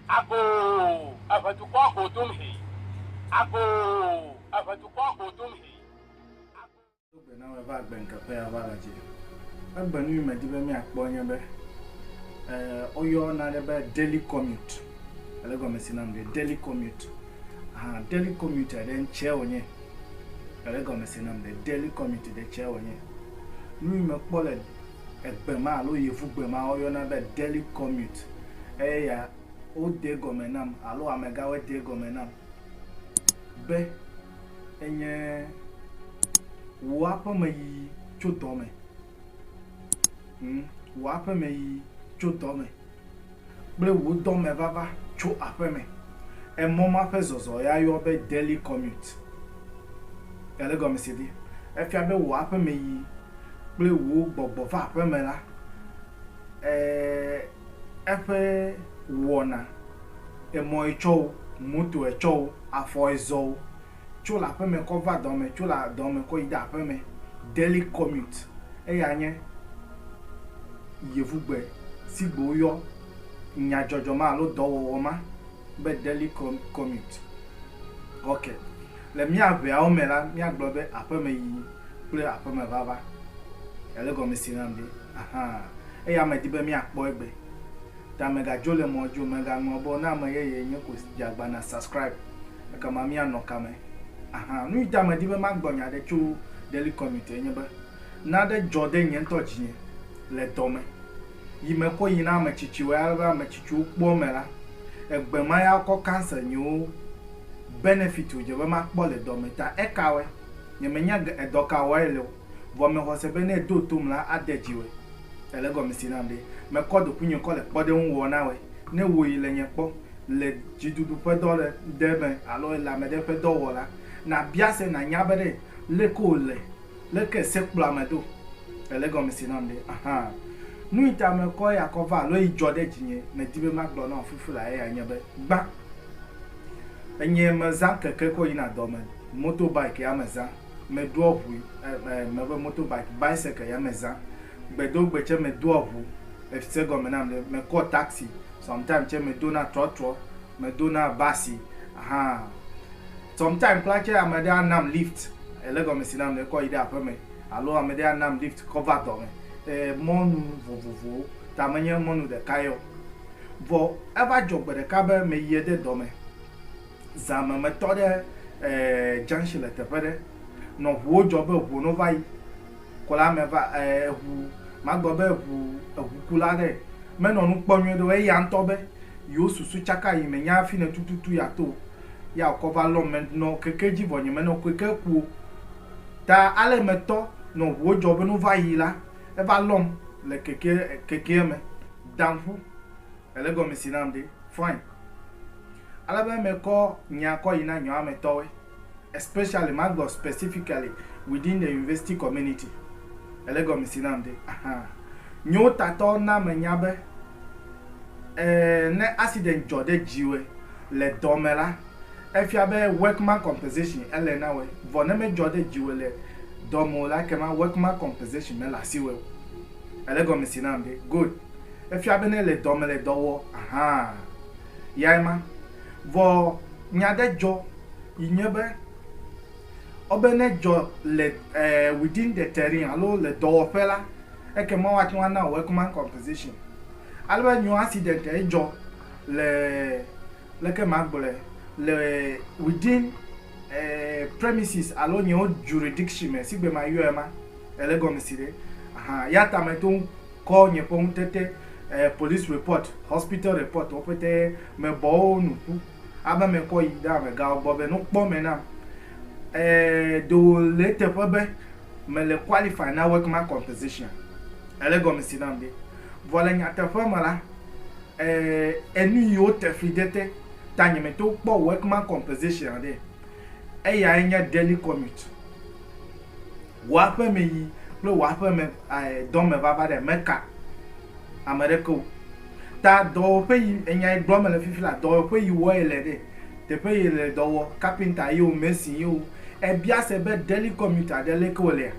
Agoo, eve dukɔa go dom hee. Agoo, eve dukɔa go dom hee. Agoo. Do gbe na me va agbe ŋke ƒe ya va la dzi. Egbe nu yi me di be mi a kpɔ nye be, e, wo yɔ na ɖe be daily commute. Ele gɔme si nam ɖe daily commute. Aha, daily commute ɖe ŋtsɛ wo nye. Ele gɔme si nam ɖe daily commute ɖe ŋtsɛ wo nye. Nu yi me kpɔ le. Egbe ma alo yevugbe ma woyɔna be Delhi Commute eya wode egɔme nam alo amegãwoe de egɔme nam be enye wò aƒemeyiyi tso dɔ me, hm, wò aƒemeyiyi tso dɔ me. kple wò dɔme vava tso aƒeme. Emɔ ma ƒe zɔzɔ ya yɔ be daily commute. Ele gɔmesedi. Efia be wò aƒemeyi kple wò gbɔgbɔ va aƒeme la, e, eƒe wɔna, emɔe tsɔ o, motoe tsɔ o, afɔe zɔ o, tso le aƒeme kɔ va dɔ me, tso le dɔ me kɔ yi ɖe aƒeme, daily commute, eya nye yevugbe si gbe woyɔ nyadzɔdzɔ ma alo dɔwɔwɔ ma be daily commute. Ok, le mía ŋɛawo me la, míagblɔ be aƒemeyiyi kple aƒemevava. Èle egɔme se nam ɖe? Ahan, eya medi be míakpɔ egbe. Ta mègadzo le mɔ dzi o, mègaŋlɔ be ne ame yeye nye ko dze agbana subscribe. ekema míanɔ kame. Ahan, nu yta medi be magblɔ nya aɖe tso Daily Commute enye be, nane dzɔ ɖe nye ŋutɔ dzinye le dɔ me yi mekɔ yi na ame tsitsiwoe ale be ame tsitsiwo kpɔ eme la, egbe ma ya wokɔ cancel nyewo benefit wodze be makpɔ le dɔ me ta. Ekawoe? Nyemenya edɔ ka wɔe ele o, vɔ mexɔse be ne edo tom la, ade dzi wɔe. Ele egɔme si nam ɖe? Mekɔ ɖokuinye kɔ le kpɔɖeŋu wɔ na wɔe. Ne wò yi le nye kpɔ, le dziɖuɖu ƒe dɔ ɖe ɖe me alo ele ame ɖe ƒe dɔ wɔ la, nàbia se nànya be ɖe le ke wòle, le ke se kplɔ ame do. Ele gɔme se nam ɖe? Ahan. Nu yi ta mekɔ eya kɔ va alo yi dzɔ ɖe dzinye medi be magblɔ na wò fifi la eyae nye be, gbã, enye mezã keke kɔ yina dɔ me, moto bike ya mezã. Me doa ʋu me be moto bike, bicycle ya me zã. Gbe do gbe tse me doa ʋu. Ese egɔme nam ɖe? Me kɔ taxi, sometime tse me dona trɔtrɔ, me dona basi ahan. Sometime kpla tse ame ɖe a nam lift, ele egɔme si nam ɖe kɔ yi ɖe aƒe me alo ame ɖe a nam lift kɔ va dɔ me. Mɔnu vovovowo ta me nye mɔnu ɖeka yeo. Vɔ eva dzɔ gbe ɖeka be me yie ɖe dɔ me. Zã me metɔ ɖe junction le teƒe ɖe, nɔ ŋuwo dzɔ be ŋuwo no va yi ko la me va ŋu magblɔ be ŋu eŋukula ɖe menɔ nu kpɔ nyuie ɖe o eya ŋutɔ be yewo susu tsaka yi menya afi ne tututu ya to ya wokɔ va lɔm me nɔ keke dzi vɔ nye menɔ keke ku o ta ale metɔ nɔ ŋuwo dzɔ be no va yi la eva lɔm le keke kekea me daŋu. Ele gɔme si nam ɖe? Fine. Ale be mekɔ nya kɔ yi na nyɔametɔwoe, especially, magblɔ specifically, within the university community. Ele gɔme si nam ɖe? Aha. Nyotatɔ na menya be, ɛɛ, ne accident dzɔ ɖe dziwòe le dɔ me la, efia be workman compensation ele na wòe. Vɔ ne medzɔ ɖe dziwòe le dɔ me o la, ekema workman compensation mele asiwòe o. Ele gɔme si nam ɖe? Good. Efia be nele dɔ me le dɔ wɔ hã yae ma. Vɔ nya ɖe dzɔ yi nye be, wobe ne edzɔ le within the terrain alo le dɔwɔƒe la, ekema woate ŋu ana wò workman compensation. Ale be nyo accident ye dzɔ le, leke magblɔe, le within premises alo nye jurisdiction me, sigbe mayɔe ma, ele egɔme si ɖe? Ahan, ya ta meto ŋu. Kɔ nye ƒe ŋutete, eh, police report, hospital report wo ƒete me bɔ wo nu ƒu abe me kɔ yi ɖe amegawo gbɔ be no kpɔ me nam. Eh, ɖe wo le eteƒe be me le qualify na workman compensation. Ele gɔme si nam be. Vɔ le nyateƒe me la, eh, enu yi wo te fli ɖe te ta nye me to kpɔ workman compensation ɖe. Eyae nye daily commute. Wò aƒemeyi kple wò aƒeme dɔ me vava ɖe meka ame ɖeke o. Ta dɔwɔƒe yi enya yi gblɔm mele fifi la, dɔwɔƒe yi wɔ yele ɖe, teƒe yi le dɔ wɔ, kapinta ye o, mesin ye o, ebia se be Deli Commuter ɖe leke wolea?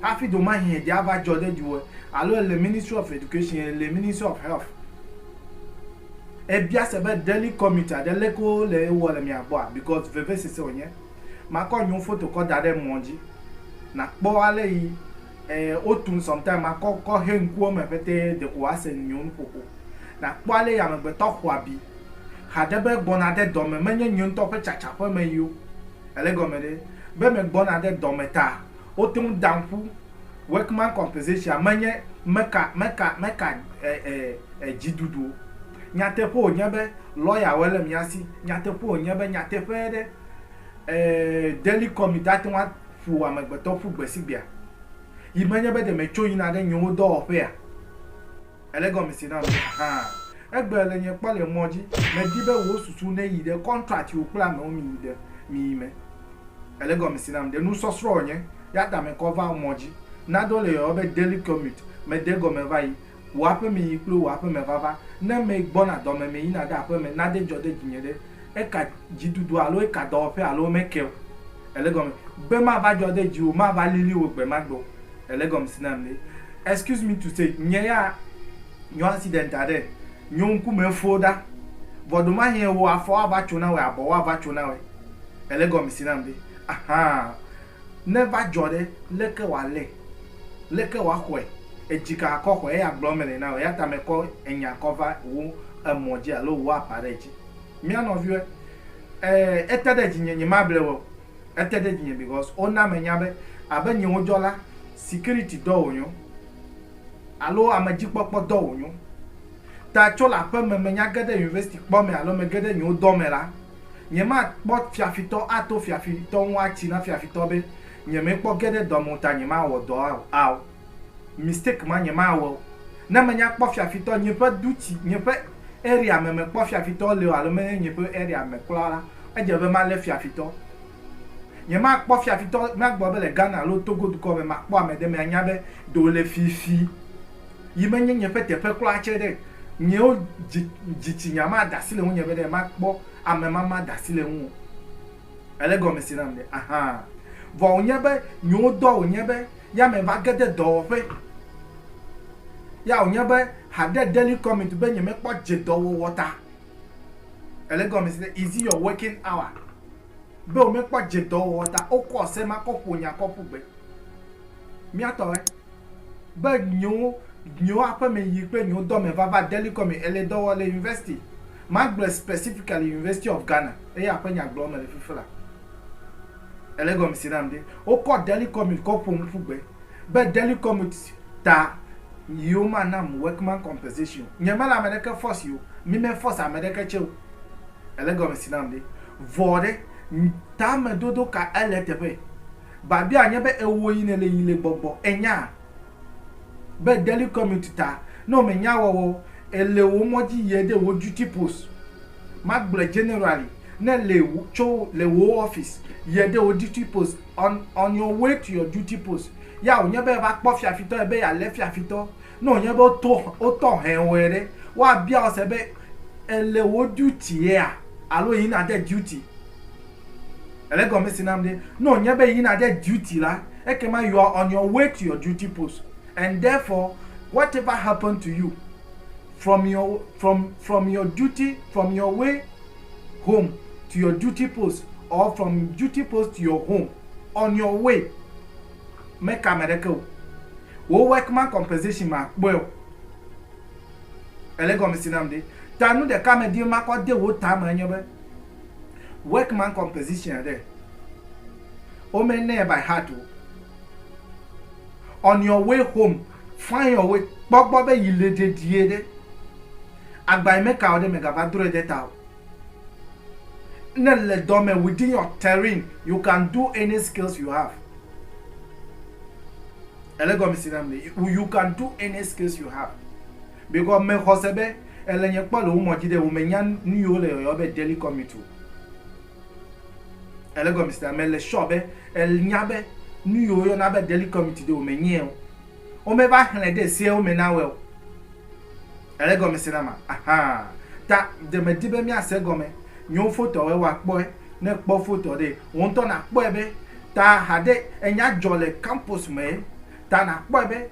Hafi domahi eɖe ava dzɔ ɖe dziwòe alo ele Ministry of Education, ele Ministry of Health. Ebia se be Deli Commuter ɖe leke wole ewɔ le mia gbɔa? Because vevesese wònye. Makɔ nyiwo foto kɔ daɖe emɔ dji nakpɔ ale yi otun sometime makɔ kɔ he ŋkuwo me ƒete deko woase nyiwo nuƒoƒo nakpɔ ale yi amegbetɔ xɔabi haɖe be gbɔna de dɔme menye nye ŋtɔ ƒe tsatsa ƒe me yio ele egɔme ɖe be me gbɔna de dɔme ta woteŋ dam ƒu Workman composition menye meka meka meka e e e djiduduo. Nyateƒe wònye be lɔyawoe le mía si. Nyateƒe wònye be nyateƒee ɖe, ɛɛ, Daily Comic ate ŋu aƒo amegbetɔ ƒu gbesigbea? Yi menye be ɖe metso yina ɖe nyewo dɔwɔƒea? Èle gɔmesese nam? Ahaa. Egbe le nye kpɔ le mɔ dzi. Medi be wò susu neyi ɖe kɔntrat si wòkple amewo mi ɖe mi me. Èle gɔmesese nam? Ɖe nusɔsrɔ̃ wònye? Eyata mekɔ va mɔ dzi. Nado le yɔyɔ be Daily Comic. Mede egɔme va yi. Wò aƒeme yi kple wò aƒeme vava. Ne mee gbɔna dɔme me yina ɖe aƒeme, nade ŋdzɔ ɖe dzinye ɖe. Eka dzidudu alo eka dɔwɔƒe alo womeke o. Ele egɔme. Gbe mava dzɔ ɖe dziwò, mava lili wò gbe ma gbe o. Ele egɔmesi nam ɖe. Excuse me to say, nye ya nyo accident aɖe, nyo ŋku me fo ɖa. Vɔ ɖomahie wò afɔwo ava tso na wòe, abɔwo ava tso na wòe. Ele egɔmesi nam ɖe. Ahaa. Ne eva dzɔ ɖe, leke wòalé? Leke wòaxɔe? Edzi ka akɔ xɔe? Eya gblɔ mele na wò, eya ta mekɔ enya kɔ va wò emɔ dzi alo wò apa ɖe edzi. Mía nɔviwoe, e, ete ɖe dzinye, nyemable wò o. Ete ɖe dzinye because wona menya be abe nye wodzɔ la, security dɔ wònyo alo amedzikpɔkpɔ dɔ wònyo. Ta tso le aƒeme, menya ge ɖe university kpɔ me alo mege ɖe nye wodɔ me la, Nyemakpɔ fiafitɔ ato fiafitɔ ŋu atsi na fiafitɔ be nyemekpɔ ge ɖe dɔ me o ta nyemawɔ dɔ ao. Mistake ma nyemawɔ o. Ne menya kpɔ fiafitɔ nye ƒe du tsi nye ƒe area me mekpɔ fiafitɔ le o alo menye nye ƒe area me kura la edze be malé fiafitɔ. Nyemakpɔ fiafitɔ nagbɔ abe le Ghana alo Togo dukɔ me makpɔ ame ɖe me anya be ɖewo le fifi yi menye nye ƒe teƒe kura tse ɖe nyewo dzi dzitsinya ma da asi le ŋunye be ɖe makpɔ ame ma ma da asi le ŋuo. Ele gɔme se nam ɖe? Ahaa. Vɔ wonye be nyewo dɔ wonye be ya me va ge ɖe dɔwɔƒe ya wonye be haɖe daily commute be nyemekpɔ dze dɔwɔwɔ ta. Ele gɔme se ɖe? Is it your working hour? be womekpɔ dze dɔ wɔwɔ ta wokɔ se ma kɔ ƒo nya kɔ ƒu gbe. Mía tɔ lae, be nyewo, nyewo aƒeme yi kple nyewo dɔme vava deli kɔ me ele dɔ wɔ le university, magblɔe specifically University of Ghana, eya ƒe nya gblɔm mele fifi la. Ele gɔme se nam ɖe, wokɔ deli commute kɔ ƒom ƒu gbe, be deli commute ta yewo manam workman compensation o. Nye mele ame ɖeke force o, mi me force ame ɖeke tse o. Èle egɔme si nam ɖe? Vɔ ɖe, tamedodo ka ele eteƒe? Babia nye be ewò yi nèle yi le gbɔgbɔ. Ènya be Daily Commute ta, ne womenya ewɔwɔ o, èle wò mɔ dzi yie ɖe wò duty post. Magblɔe generally, ne èle tso le wò office yie ɖe wò duty post, on, on your way to your duty post, ya wònye be eva kpɔ fiafitɔ ebe yealé fiafitɔ Ne wònye be woto, wotɔ hɛwɔe ɖe, woabia wò se be, Èle wò duty yea alo yi nàde duty? Èle egɔme si nam ɖe? Ne wònye be yi nàde duty la, ekema you are on your way to your duty post and therefore whatever happen to you from your, from, from your duty, from your way home to your duty post or from duty post to your home, on your way, Meka ame ɖeke o. Wò workman compensation makpɔe o. Èle gɔmesi nam ɖe? Ta nu ɖeka medi be makɔ de wò ta me enye be, workman compensation ɖe, wome nɛ by heart o. On your way home, find your way, kpɔ gbɔ be yi le ɖeɖie ɖe. Agba yi meka o ɖe, megava drɔe ɖe ta o. Ne le dɔ me within your terrain you can do any skills you have. Ele gɔmisi nam ne you can do any skills you have. Because me xɔse be ele nye kpɔ le wo mɔdzi ɖe wo me nya nu yi wo le yɔyɔ be daily commute o. Ele gɔmisi nam me le sure be ele nya be nu yi wo yɔna be daily commute ɖe wo me nyɛ o. Wo me va xlɛ ɖe se wo me na wɛ o. Ele egɔme se nama? Ahaa. Ta ɖe mèdi be míase egɔme nyo fotoawoe wa kpɔe? Ne èkpɔ fotoa ɖe, wò ŋutɔ nàkpɔe be ta haɖe enya dzɔ le kampus mee. Ta nàkpɔe be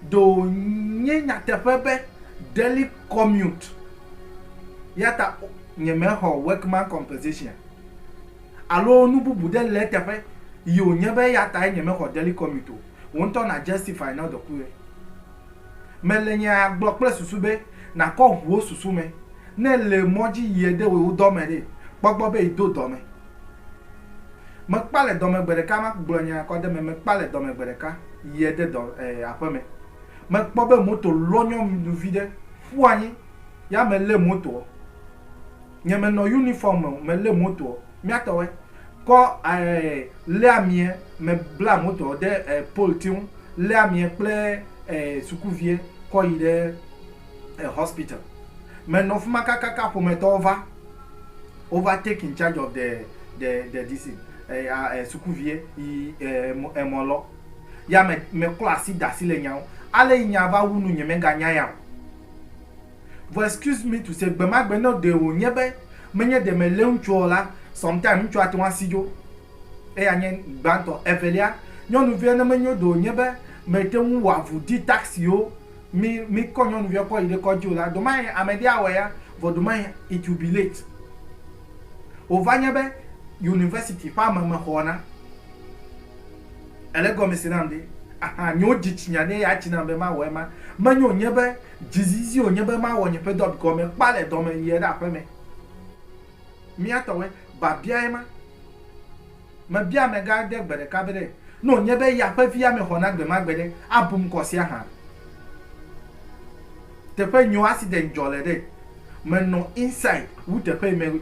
ɖe wònye nyateƒe be Daily Commute ya ta nyemexɔ Workman Compensation alo nu bubu ɖe le eteƒe yi wònye be eya tae nyemexɔ Daily Commute o. Wò ŋutɔ nà justify nɔ dɔkuɣi. Mele nyaa gblɔ kple susu be nàkɔ ŋu wo susu me. Ne èle mɔ dzi yie de wò dɔ me ɖe, kpɔ gbɔ be yedo dɔ me. Mekpa le dɔ me gbe ɖeka ma gblɔ nya kɔ ɖe eme. Mekpa le dɔ me gbe ɖeka yie de dɔ e aƒe me. Mekpɔ be moto lɔnyɔ viɖe ƒu anyi ya melé motoɔ. Nye me nɔ unifɔm me o, me lé motoɔ, mía tɔwɛ, kɔ ɛɛ lé amiɛ, me bla motoɔ ɖe ɛɛ pole tiŋ, lé amiɛ kple ɛɛ sukuviɛ kɔ yi ɖe ɛɛ hospital. Me nɔ fima kakaka ƒometɔwo va, wo va take in charge of the, the, the this thing, ɛɛ a ɛɛ sukuviɛ yi ɛɛ emɔ, emɔ lɔ. Ya me, me klɔ asi da asi le nya ŋu. Ale yi nya va wu nu nye me ga nya ya o. Vɔ excuse me to say gbemagbe ne ɖe wònye be menye ɖe mèlé ŋutsua o la, sometime ŋutsua ate ŋu asi dzo. Eya nye gbãtɔ. Evelia, nyɔnuvia ne menyo ɖe wònye be mète ŋu wɔ avu di tax siwo mi mikɔ nyɔnuvia kɔ yi ɖe kɔdzi o la, ɖemahe ame ɖe awɔe ya, vɔ ɖemahe it will be late. Wòva nye be University ƒe ame mexɔ na. Èle egɔme se nam ɖe? Ahan, nyewo dzi tsinya ɖe eya tsi nam be mawɔ ema. Menye wònye be. Dzizizi wònye be mawɔ nye ƒe dɔ gɔme kpa le dɔ me yie ɖe aƒe me. Mía tɔwoe, biabiae ma. Mebia amegã aɖe gbe ɖeka be ɖe ne wònye be ya ƒe vi ame xɔna gbe ma gbe ɖe, abu ŋkɔ sia hã? Teƒe nyio accident dzɔ le ɖe? Menɔ inside wu teƒe yi me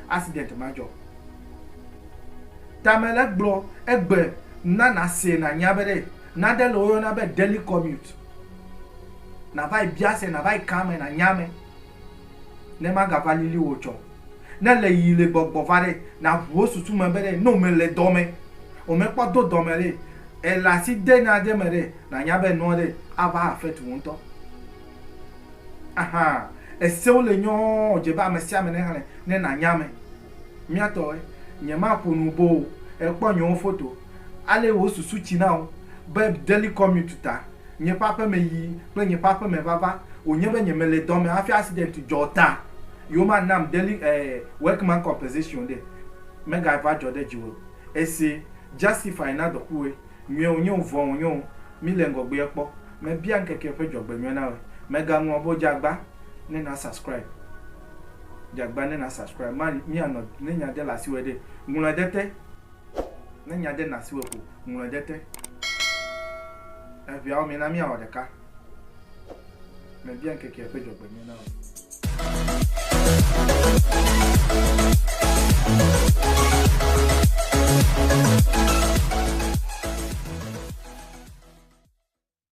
accident ma dzɔ. Tame le gblɔ egbe na nàsee nànya be ɖe. Nane le woyɔna be Daily Commute. Nàva yi bia se, nàva yi ka ame, nànya ame ne magava lili wò tsɔ. Ne le yi le gbɔgbɔ va ɖe, nàʋu wo susu me be ɖe ne womele dɔ me, womekpɔ do dɔ me ɖe, èle asi de nane me ɖe, nànya be enua ɖe ava affect wò ŋutɔ. Ahan, esewo le nyɔɔ, dze be ame sia ame nexlẽ ne nànya ame. Míatɔwoe, nyemaƒo nu boo o, èkpɔ nyewo foto. Ale wò susu tsi na wò be Deli Commute ta, nye ƒe aƒeme yi kple nye ƒe aƒeme vava wònye be nye mele dɔ me hafi accident dzɔ ta yewoma nam Deli eh, Workman Compensation ɖe mega va dzɔ ɖe dziwò ese justify na dɔkuwɔe nyuie wònye wò vɔ̃ wònye wò mi le ŋgɔgbea kpɔ mebia ŋkeke ƒe dzɔgbenyuie na wòe mega ŋlɔ be wodze agba ne na subscribe dze agba ne na subscribe ma mi anɔ ne nya de le asiwòe ɖe ŋlɔe ɖe te. Ne nya de nasiwò ko, ŋlɔe ɖe te. Eŋeawo me na míawɔ ɖeka. Mebia ŋkekea ƒe dzɔgbenyui na wò.